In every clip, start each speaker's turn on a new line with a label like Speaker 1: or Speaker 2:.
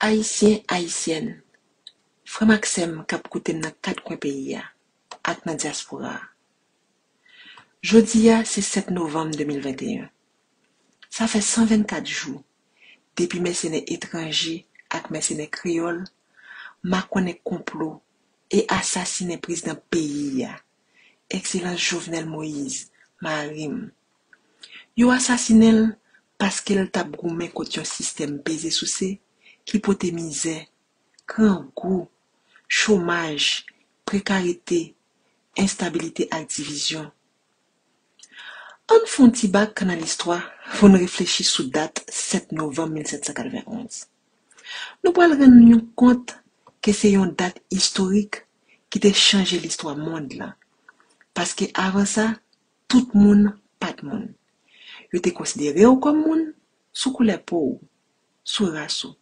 Speaker 1: Ayisyen, Ayisyèn, frè m ak sè m k ap koute m nan kat kwen peyi a ak nan dyaspora a. Jodi a se 7 novanm 2021. Sa fè 124 jou depi mèsenè etranje ak mèsenè kreyòl makonnen konplo e asasinen prezidan peyi a Ekselans Jovenel Moïse, mari m. Yo asasinen l paske l t ap goumen kont yon sistèm peze souse ki pote mizè, grangou, chomaj, prekarite, enstabilite ak divizyon. An n fon ti bak nan listwa pou n reflechi sou dat 7 novanm 1791. Nou pral rann nou yon kont ke se yon dat istorik ki te chanje listwa mond lan, paske avan sa, tout moun pa t moun. Yo te konsidere w kòm moun sou koulè po w, sou ras ou.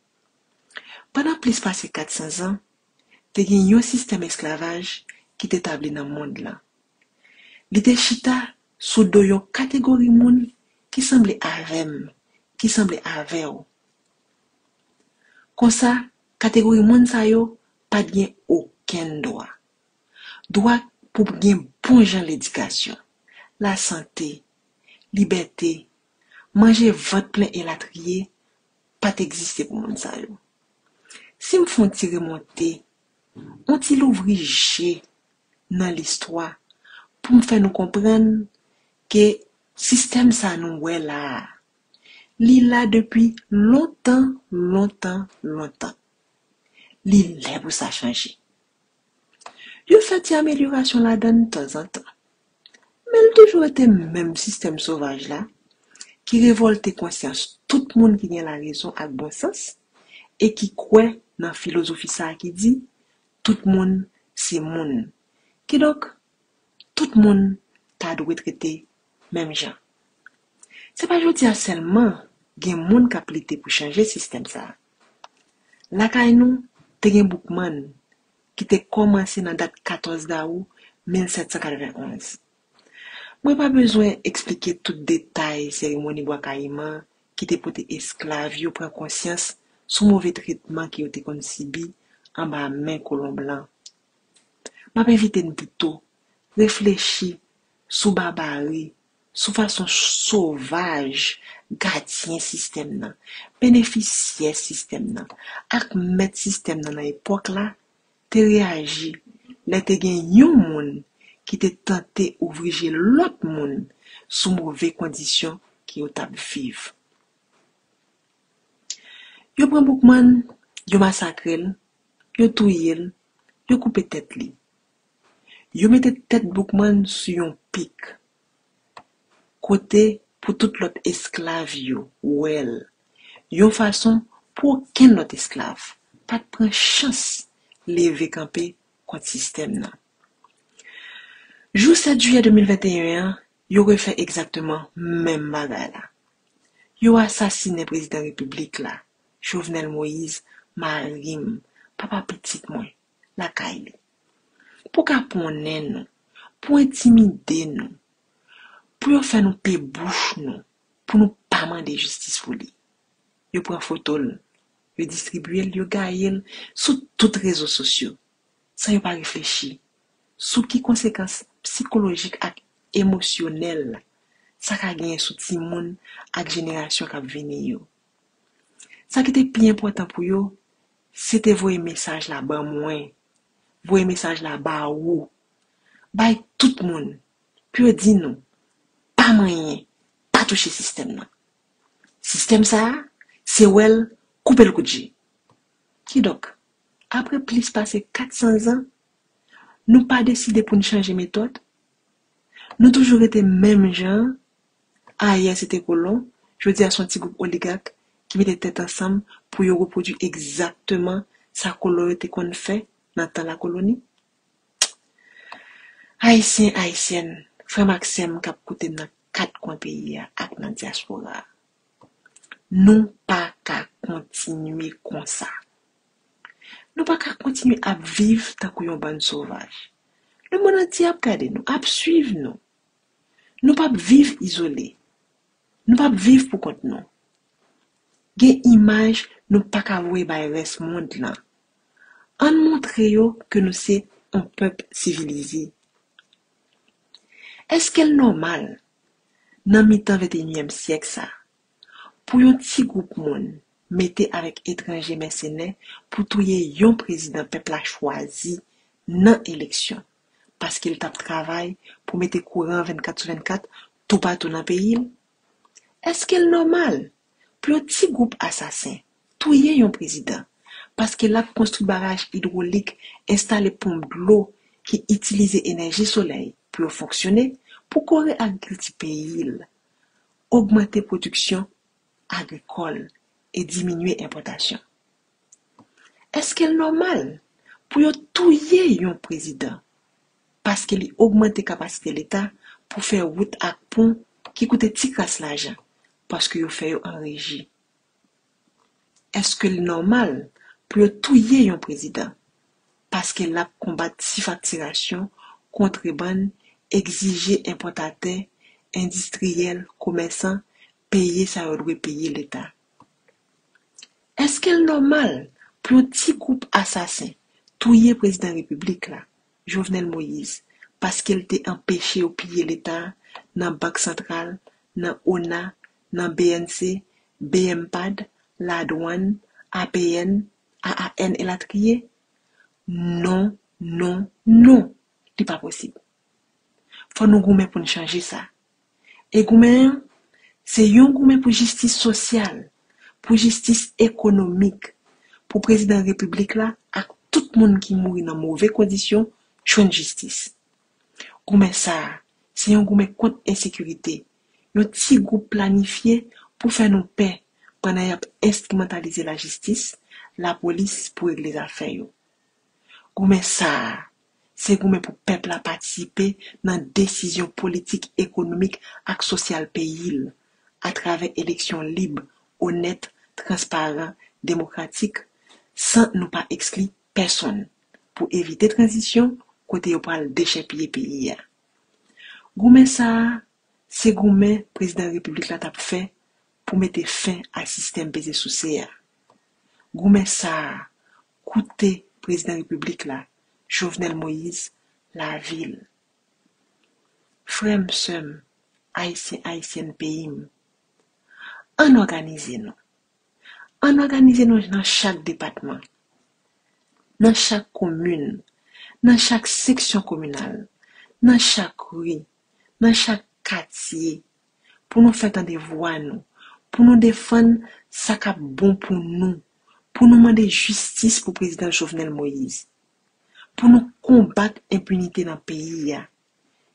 Speaker 1: Pandan plis pase 400 zan, te gen yon sistèm esklavaj ki te tabli nan mond lan. Li te chita sou do yon kategori moun ki sanble avè m, ki sanble avè w. Konsa, kategori moun sa yo pa t gen okenn dwa. Dwa pou gen bon jan ledikasyon, lasante, libète, manje vant plen elatriye pa t egziste pou moun sa yo. Si m fè yon ti remonte, yon ti louvri je nan listwa pou m fè nou konprann ke sistèm sa nou wè la a, Li la depi lontan, lontan, lontan. Li lè pou sa chanje. Yo fè ti amelyorasyon ladan l tanzantan. Men l toujou rete menm sistèm sovaj la ki revòlte konsyans tout moun ki gen larezon ak bon sans e ki kwè nan filozofi sa a ki di, Tout moun se moun. Kidonk, tout moun ta dwe trete menm jan. Se pa jodi a sèlman gen moun k ap lite pou chanje sistèm sa a. Lakay nou, te gen Boukman ki te kòmanse nan dat 14 dawou 1791. Mwen pa bezwen esplike tout detay seremoni Bwa Kayiman ki te pote esklav yo pran konsyans sou move tretman ke yo te konn sibi anba men kolon blan. M ap envite n pito reflechi sou babari, sou fason sovaj gadyen sistèm nan, benefisyè sistèm nan ak mèt sistèm nan nan epòk la te reyaji lè te gen yon moun ki te tante ouvri je lòt moun sou move kondisyon ki yo t ap viv. Yo pran Boukman, yo masakre l, yo touye l, yo koupe tèt li. Yo mete tèt Boukman sou yon pik, kote pou tout lòt esklav yo wè l, yon fason pou okenn lòt esklav pa t pran chans leve kanpe kont sistèm nan. Jou 7 jiyè 2021 an, yo refè egzakteman menm bagay la. Yo asasinen prezidan repiblik la, Jovenel Moïse, mari m, papa pitit mwen. lakay li, pou kaponnen nou, pou entimide nou, pou yo fè nou pe bouch nou, pou nou pa mande jistis pou li. Yo pran foto l, yo distribye l, yo gaye l sou tout rezo sosyo, san yo pa reflechi sou ki konsekans psikolojik ak emosyonèl sa ka genyen sou timoun ak jenerasyon k ap vini yo. Sa ki te pi enpòtan pou yo, se te voye mesaj la ban mwen, voye mesaj la ba ou, bay tout moun, pou yo di nou, pa manyen, pa touche sistèm nan. Sistèm sa a, se wè l, koupe l kout je. Kidonk, apre plis pase 400 zan, nou pa deside pou n chanje metòd? Nou toujou rete menm jan ayè se te kolon, jodi a se yon ti gwoup oligak ki mete tèt ansanm pou yo repwodui egzakteman sa kolon yo te konn fè nan tan lakoloni. Ayisyen, Ayisyèn, frè m ak sè m k ap koute m nan kat kwen peyi a ak nan dyaspora a, nou pa ka kontinye konsa. Nou pa ka kontinye ap viv tankou yon bann sovaj. Lemonn antye ap gade nou, ap suiv nou. Nou p ap viv izole. Nou p ap viv pou kont nou. Gen imaj nou pa ka voye bay rès mond lan. Ann montre yo ke nou se yon pèp sivilize. Èske l nòmal, nan mitan venteyinyèm syèk sa, Pou yon ti gwoup moun mete avèk etranje mèsenè pou touye yon prezidan pèp la chwazi nan eleksyon paske l t ap travay pou mete kouran 24 sou 24 toupatou nan peyi l? Èske l nòmal pou yon ti gwoup asasen touye yon prezidan paske l ap konstwi baraj idwolik, enstale ponp dlo ki itilize enèji solèy pou yo fonksyone pou kore agrikilti peyi l ogmante pwodiksyon agrikòl e diminye enpòtasyon. Eske l nòmal pou yo touye yon prezidan paske li ogmante kapasite leta pou fè wout ak pon ki koute ti kras lajan paske yo fè yo an reji? Eske l nòmal pou yo touye yon prezidan paske l ap konbat sifaktirasyon, kontrebann, egzije enpòtatè, endistriyèl, komèsan peye sa yo dwe peye Leta? Eske l nòmal pou yon ti gwoup asasen touye prezidan repiblik la, Jovenel Moïse, paske l te anpeche yo piye Leta nan Bank Santral, nan ona, nan bnc, bmpad, ladwann, apn, AAN elatriye? Non, non, non! Li pa posib. Fò nou goumen pou n chanje sa. E goumen an, se yon goumen pou jistis sosyal, pou jistis ekonomik, pou Prezidan Repiblik la ak tout moun ki mouri nan move kondisyon jwenn jistis. Goumen sa a, se yon goumen kont ensekirite, Yon ti gwoup planifye pou fè nou pè pandan y ap enstrimantalize lajistis, lapolis pou regle zafè yo. Goumen sa a, se goumen pou pèp la patisipe nan desizyon politik, ekonomik ak sosyal peyi l atravè eleksyon lib, onèt, transparan, demokratik, san nou pa ekskli pèsonn, pou evite tranzisyon kote yo pral dechèpiye peyi a. Goumen sa a, se goumen Prezidan Repiblik la t ap fè pou mete fen a sistèm peze souse a. Goumen sa a koute Prezidan Repiblik la, Jovenel Moïse, lavi l. Frè m, sè m, Ayisyen, Ayisyèn peyi m, ann òganize nou, Ann òganize nou nan chak depatman, nan chak komin, nan chak seksyon kominal, nan chak ri, nan chak katye, pou nou fè tande vwa nou, pou nou defann sa k ap bon pou nou, pou nou mande jistis pou Prezidan Jovenel Moïse, pou nou konbat enpinite nan peyi a.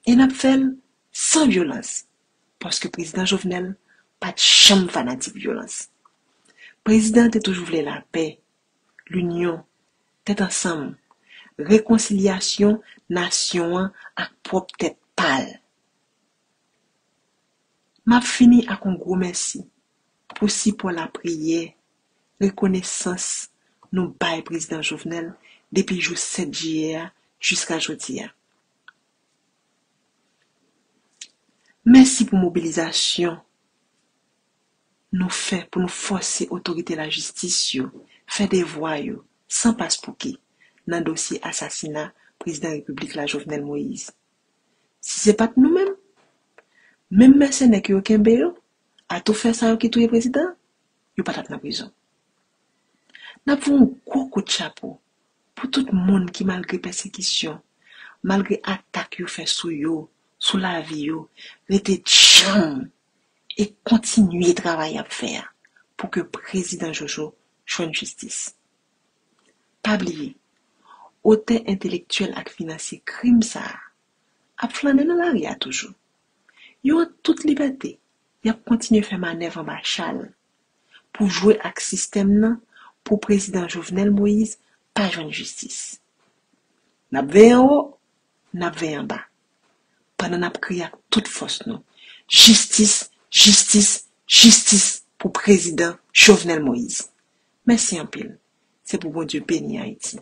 Speaker 1: e nap fèl san vyolans paske prezidan Jovenel pat janm fanatik vyolans prezidan te toujou vle lapè linyon tèt ansanm rekonsilyasyon nasyon an ak pwòp tèt pal map fini ak on gwo mèsi pou sipò lapriyè, rekonesans nou bay Prezidan Jovenel depi jou 7 jiyè a jiska jodi a. Mèsi pou mobilizasyon nou fè pou nou fòse otorite lajistis yo fè devwa yo san paspouki nan dosye asasina Prezidan Repiblik la Jovenel Moïse. Si se pa t nou menm, menm mèsenè ke yo kenbe yo, Atoufè sa yo ki touye prezidan yo pa tap nan prizon. Nap voye yon gwo kout chapo pou tout moun ki malgre pèsekisyon, malgre atak yo fè sou yo, sou lavi yo, rete djanm e kontinye travay yap fè a pou ke prezidan Jojo jwenn jistis. Pa bliye, otè entelektyèl ak finansye krim sa a ap flannen nan lari a toujou. Yo an tout libète, y ap kontinye fè manèv anba chal pou jwe ak sistèm nan pou prezidan Jovenel Moïse pa jwenn jistis. N ap veye anwo, n ap veye anba, pandan n ap kriye ak tout fòs nou, Jistis, jistis, jistis pou prezidan Jovenel Moïse! Mèsi anpil. Se pou Bondye beni Ayiti.